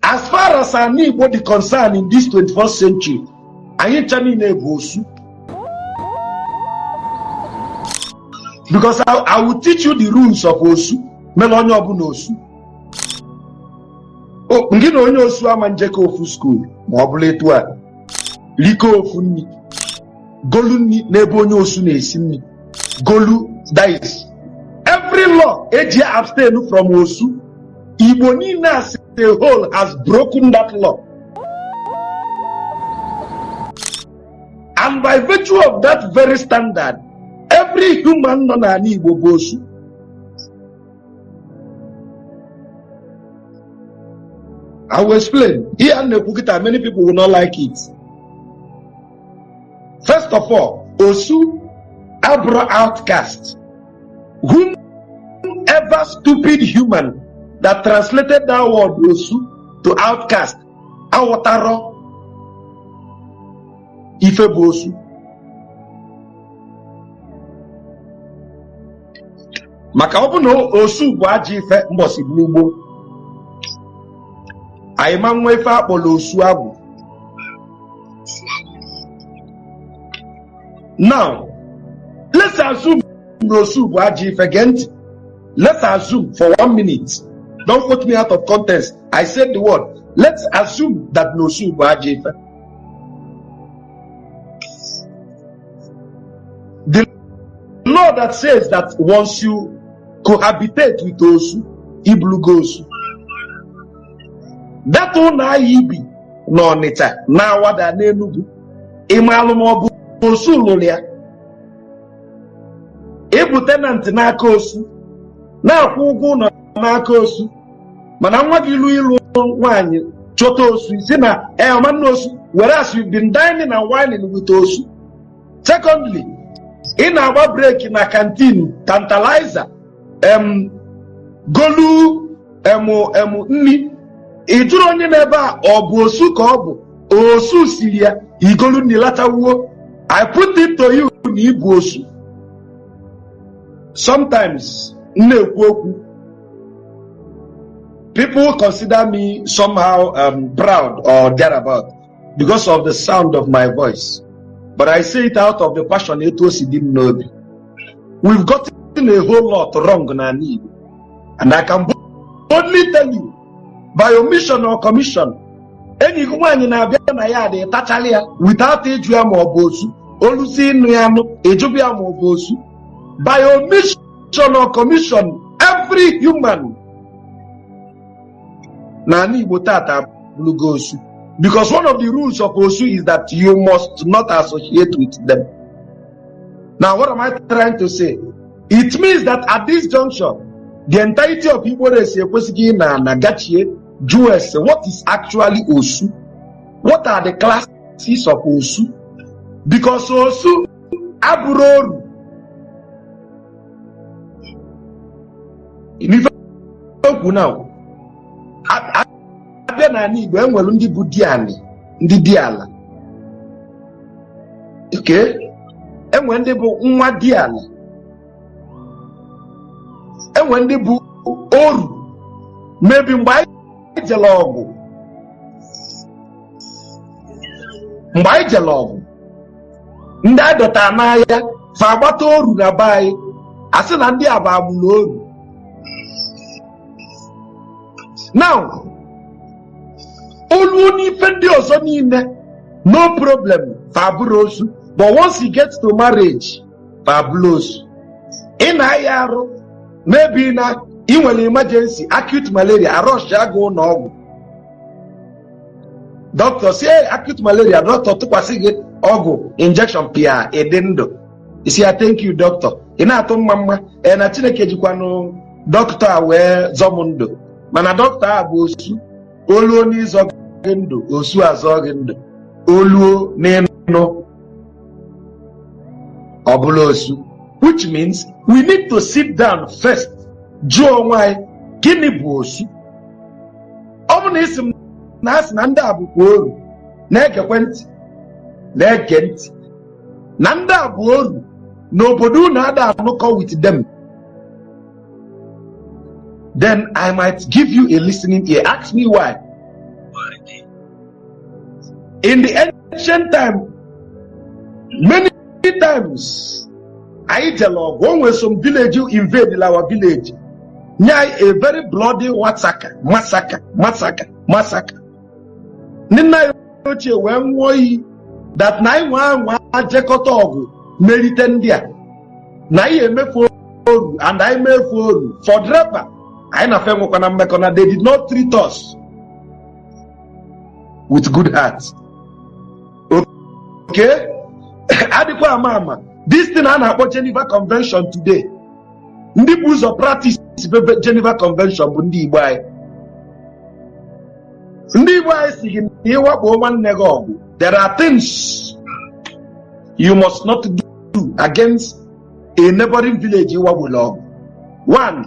as far as ana Igbo dị concern in this 21st century anyị ncha niile bụ osu because I, I will teach you the rules of osu mere onye ọbụla osu ngị na onye osu ama njekọ ofu skuul ma ọ bụla etu a rikọ ofu nri golu nri n'ebe onye osu na-esi nri golu that is every law eji abstain from osu Igbo niile asị the whole has broken that law and by virtue of that very standard every human nọ n'ala Igbo bụ osu I will explain. Here in Nekukita, many people will not like it. First of all, Osu Abra outcast. whomever stupid human that translated that word osu to outcast aghọtarọ ife bụ osu maka ọ bụ na osu bụ ajọ ife mbọsị nụ gboo anyị ama nwe ife akpọrọ Osuagwụ now let's assume na osu bụ ajọ ife gee ntị let's assume for one minute don't quote me out of context i said the word let's assume that na osu bụ ajọ ife the law that says that once you cohabitate with osu ịbụlụgo osu that ụnọ a ibi n'Ọnịcha n'Awada n'Enugwu ị malụ ma ọ bụ osu lụlụ ya ịbụ tenant n'aka osu na-akwụ ụgwọ ụnọ n'aka osu mana nwa gị lue ịlụ nwaanyị chọta osu ị sị na ọ ma nnụ osu whereas you've been dining and wining with osu secondly ị na-agba break na canteen tantalizer em golu em em nri ị jụrụ onye n'ebe a ọ bụ osu ka ọ bụ osu siri ya igolu nri lachawuo i put it to you na ịbụ osu sometimes m na-ekwu okwu people consider me somehow um, proud or thereabout because of the sound of my voice but i say it out of the passion etu o si dị m n'obi we've gotten a whole lot wrong n'ana Igbo and i can boldly tell you by omission or commission enyi gị nwaanyị na-abịa na yard ị tachara ya without ịjụ ya ma ọ bụ osu oluzie ịnụ ya nụ ịjụba ya ma ọ bụ osu by omission or commission every human n'ana Igbo tata abụlụgo osu because one of the rules of osu is that you must not associate with them now what am I trying to say it means that at this junction the entirety of igbo race ekwesịgo ịnọ ana gachie jụọ ese what is actually osu what are the classes of osu because osu abụrọ oru okay now abịa n'anị Igbo e nwere ndị bụ dianị ndị di ala okay e nwere ndị bụ nwa di ala e nwere ndị bụ oru maybe mgbe anyị jere ọgụ mgbe anyị jere ọgụ ndị a dọta n'aya fa agbata oru na be anyị a sị na ndị a bụ agbụrụ oru now oluo n'ife ndị ọzọ niile no problem fa abụrọ osu but once you get to marriage fa abụrụ osu ị na-aya arụ maybe na ị nwere emergency acute malaria a rush gị gaa ụnọ ọgwụ doctor sị ee acute malaria doctor tụkwasị gị ọgwụ injection pịa ị dị ndụ ị sị ya thank you doctor ị na-atụ mmamma ee na chineke jikwanụ doctor a wee zọ m ndụ mana doctor a bụ osu oluo n'ịzọ gị ndụ osu azọ gị ndụ oluo n'ịnụ ọ bụlụ osu which means we need to sit down first jụọ onwe anyị gịnị bụ osu ọ bụ na ị sị m na a sị na ndị a bụkwa oru na-egekwe ntị na-ege ntị na ndị a bụ oru n'obodo unu ada anụkọ with them then I might give you a listening ear ask me why in the ancient time many times anyị jere ọgụ o nwere some village invade our village nye anyị a very bloody massacre massacre massacre massacre ndị nna anyị ochie wee nwụọ iyi that na anyị nwaa anwa jekọta ọgụ merite ndị a na anyị eme fa oru and anyị mee fa oru forever anyị na fa enwekwana mmekọ na they did not treat us with good heart okay adịkwa ama ama this thing a na-akpọ Geneva Convention today ndị bu ụzọ practice be Geneva Convention bụ ndị Igbo anyị ndị Igbo anyị sị gị na ị wakpo nwanne gị ọgụ there are things you must not do against a neighboring village ị wakpolu ọgụ one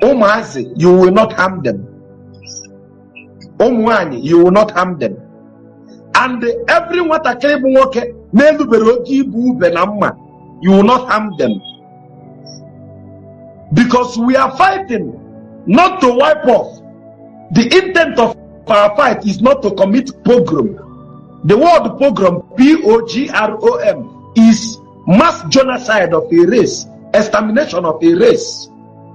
ụmụazị you will not harm them ụmụ nwanyị you will not harm them and every nwatakịrị bụ nwoke na-elubere oge ibu ube na mma you will not harm them because we are fighting not to wipe off the intent of our fight is not to commit pogrom the word pogrom p-o-g-r-o-m is mass genocide of a race extermination of a race